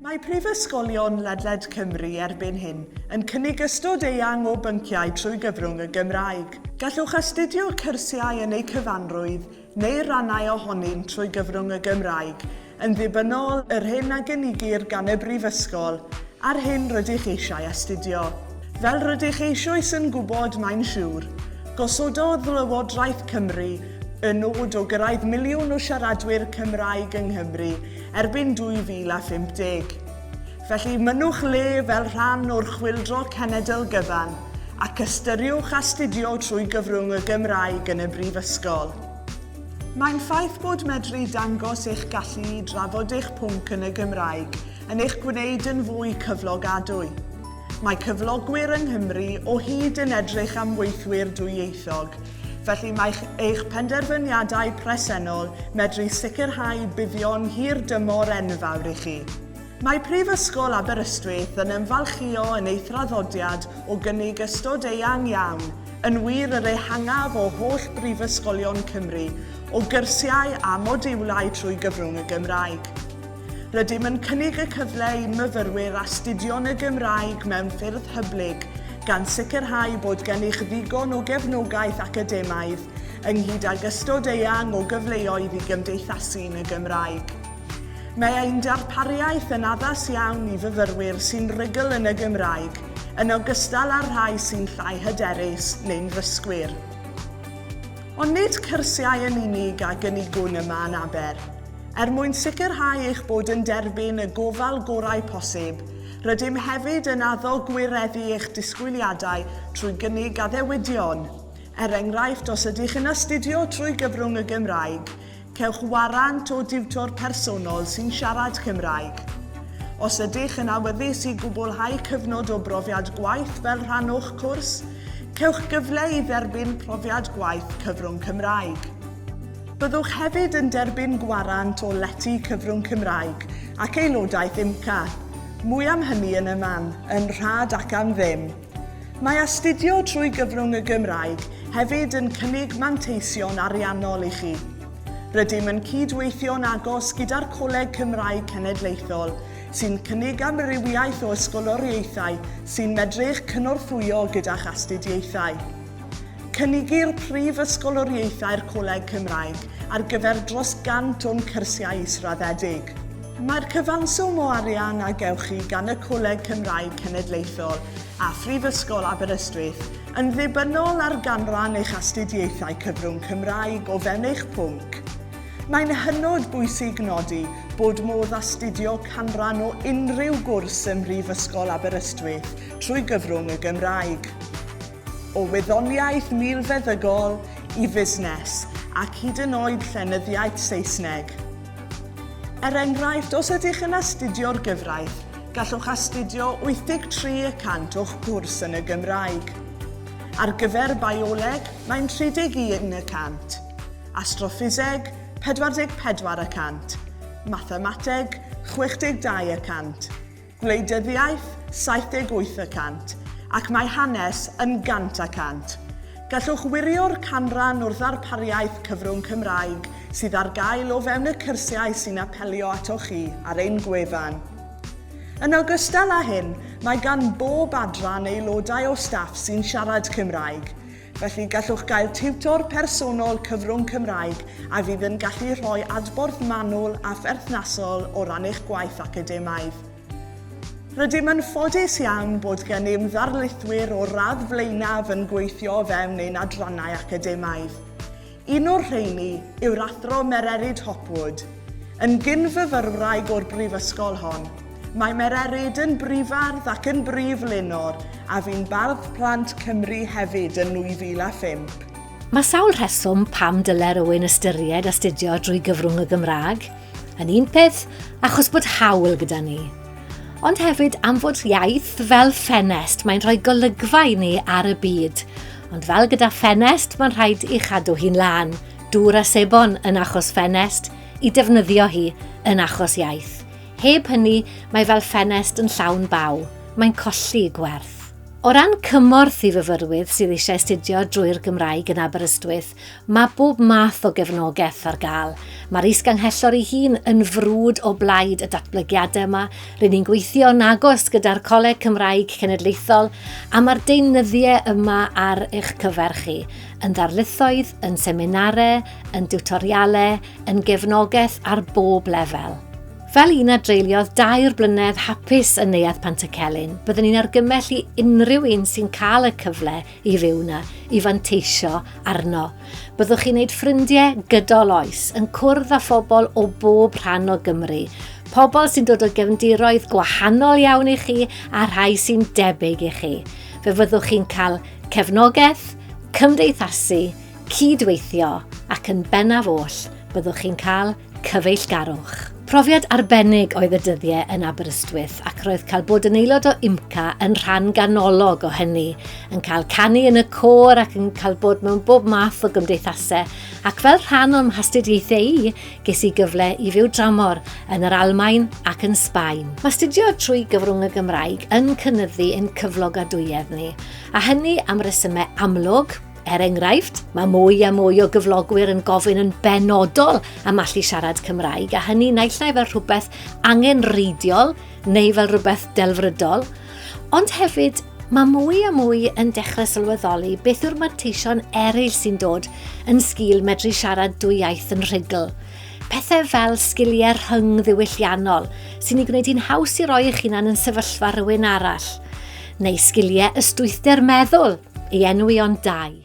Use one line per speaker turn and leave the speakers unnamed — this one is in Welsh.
Mae prifysgolion ledled Cymru erbyn hyn yn cynnig ystod eang o bynciau trwy gyfrwng y Gymraeg. Gallwch astudio cyrsiau yn eu cyfanrwydd neu rannau ohonynt trwy gyfrwng y Gymraeg, yn ddibynnol yr hyn a gynigir gan y brifysgol a'r hyn rydych eisiau astudio. Fel rydych eisioes yn gwybod, mae'n siŵr, gosododd Lywodraeth Cymru y nod o gyrraedd miliwn o siaradwyr Cymraeg yng Nghymru erbyn 2050. Felly, mynnwch le fel rhan o'r Chwyldro Cenedl gyfan ac ystyriwch astudio trwy gyfrwng y Gymraeg yn y Brifysgol. Mae'n ffaith bod medru dangos eich gallu i drafod eich pwnc yn y Gymraeg yn eich gwneud yn fwy cyflogadwy. Mae cyflogwyr yng Nghymru o hyd yn edrych am weithwyr dwyieithog, Felly mae eich penderfyniadau presennol medru sicrhau buddion hir dymor enfawr i chi. Mae Prifysgol Aberystwyth yn ymfalchïo yn ei thraddodiad o gynnig ystod eang iawn, yn wir yr ehangaf o holl brifysgolion Cymru, o gyrsiau a modiwlau trwy gyfrwng y Gymraeg. Rydym yn cynnig y cyfle i myfyrwyr astudio'n y Gymraeg mewn ffyrdd hyblyg, gan sicrhau bod gennych ddigon o gefnogaeth academaidd, ynghyd ag ystod eang o gyfleoedd i gymdeithasu yn y Gymraeg. Mae ein darpariaeth yn addas iawn i fyfyrwyr sy'n rugl yn y Gymraeg, yn ogystal â'r rhai sy'n llai hyderus neu'n ddysgwyr. Ond nid cyrsiau yn unig a gynigwn yma yn Aber. Er mwyn sicrhau eich bod yn derbyn y gofal gorau posib, rydym hefyd yn addo gwireddu eich disgwyliadau trwy gynnig addewidion, er enghraifft os ydych yn astudio trwy gyfrwng y Gymraeg, cewch warant o diwtor personol sy'n siarad Cymraeg. Os ydych yn awyddus i gwblhau cyfnod o brofiad gwaith fel rhan o'ch cwrs, cewch gyfle i dderbyn profiad gwaith cyfrwng Cymraeg. Byddwch hefyd yn derbyn gwarant o lety cyfrwng Cymraeg ac aelodaeth IMCA. Mwy am hynny yn y man, yn rhad ac am ddim. Mae astudio trwy gyfrwng y Gymraeg hefyd yn cynnig manteision ariannol i chi. Rydym yn cyd-weithio'n agos gyda'r Coleg Cymraeg Cenedlaethol, sy'n cynnig amrywiaeth o ysgoloriaethau sy'n medru'ch cynorthwyo gyda'ch astudiaethau. Cynigir Prif Ysgoloriaethau'r Coleg Cymraeg ar gyfer dros 100 o'n cyrsiau israddedig. Mae'r cyfanswm o arian a gewch chi gan y Coleg Cymraeg Cenedlaethol a Phrifysgol Aberystwyth yn ddibynnol ar ganran eich astudiaethau cyfrwng Cymraeg o fewn eich pwnc. Mae'n hynod bwysig nodi bod modd astudio canran o unrhyw gwrs ym Mhrifysgol Aberystwyth trwy gyfrwng y Gymraeg. o wyddoniaeth milfeddygol i fusnes ac hyd yn oed llenyddiaeth Saesneg. Er enghraifft, os ydych yn astudio'r gyfraith, gallwch astudio 83 y cant o'ch cwrs yn y Gymraeg. Ar gyfer bioleg, mae'n 31 y cant, astroffiseg, 44 y cant, mathemateg, 62 y cant, Gwleidyddiaeth, 78 y cant, ac mae Hanes yn 100 y cant. Gallwch wirio'r canran o'r ddarpariaeth cyfrwng Cymraeg sydd ar gael o fewn y cyrsiau sy'n apelio atoch chi ar ein gwefan. Yn ogystal â hyn, mae gan bob adran aelodau o staff sy'n siarad Cymraeg, Felly, gallwch gael tiwtor personol cyfrwng Cymraeg a fydd yn gallu rhoi adborth manwl a pherthnasol o ran eich gwaith academaidd. Rydym yn ffodus iawn bod gennym ddarlithwyr o'r radd flaenaf yn gweithio o fewn ein adrannau academaidd. Un o'r rheiny yw'r Athro Mererid Hopwood. Yn gyn-fyfyrwraig o'r Brifysgol hon, mae Mererid yn brifardd ac yn brif lenor a fu'n Bardd Plant Cymru hefyd yn 2005. Mae sawl rheswm pam dylai rywun ystyried astudio drwy gyfrwng y Gymraeg, yn un peth, achos bod haul gyda ni. Ond hefyd am fod iaith fel ffenest, mae'n rhoi golygfa i ni ar y byd. Ond fel gyda ffenest, mae'n rhaid i chadw hi'n lân, dŵr a sebon yn achos ffenest, i defnyddio hi yn achos iaith. Heb hynny, mae fel ffenest yn llawn baw. Mae'n colli gwerth. O ran cymorth i fyfyrwydd sydd eisiau astudio drwy'r Gymraeg yn Aberystwyth, Mae bob math o gefnogaeth ar gael. Mae'r Is-ganghellor ei hun yn frwd o blaid y datblygiadau yma, rŷn ni'n gweithio'n agos gyda'r Coleg Cymraeg Cenedlaethol a mae'r deunyddiau yma ar eich cyfer chi, yn ddarlithoedd, yn seminarau, yn diwtorialau, yn gefnogaeth ar bob lefel. Fel un a dreuliodd dair blynedd hapus yn Neuadd Pantycelyn, byddwn ni'n argymell i unrhyw un sy'n cael y cyfle i ryw na i fanteisio arno. Byddwch chi'n gwneud ffrindiau gydol oes, yn cwrdd â phobl o bob rhan o Gymru, pobl sy'n dod o gefndiroedd gwahanol iawn i chi a rhai sy'n debyg i chi. Fe fyddwch chi'n cael cefnogaeth, cymdeithasu, cydweithio ac yn bennaf oll, byddwch chi'n cael Cyfeillgarwch. Profiad arbennig oedd y dyddiau yn Aberystwyth ac roedd cael bod yn aelod o IMCA yn rhan ganolog o hynny, yn cael canu yn y côr ac yn cael bod mewn bob math o gymdeithasau ac fel rhan o'n mhastudiaethau i, ges i gyfle i fyw dramor yn yr Almaen ac yn Sbaen. Mae astudio trwy gyfrwng y Gymraeg yn cynyddu ein cyflogadwyedd ni, a hynny am resymau amlwg, Er enghraifft, mae mwy a mwy o gyflogwyr yn gofyn yn benodol am allu siarad Cymraeg, a hynny naill ai fel rhywbeth angenrheidiol neu fel rhywbeth delfrydol, ond hefyd mae mwy a mwy yn dechrau sylweddoli beth yw'r manteision eraill sy'n dod yn sgil medru siarad dwy iaith yn rhugl. Pethau fel sgiliau rhyngddiwylliannol sy'n ei gwneud hi'n haws i roi eich hunan yn sefyllfa rhywun arall, neu sgiliau ystwythder meddwl, i enwi ond dau.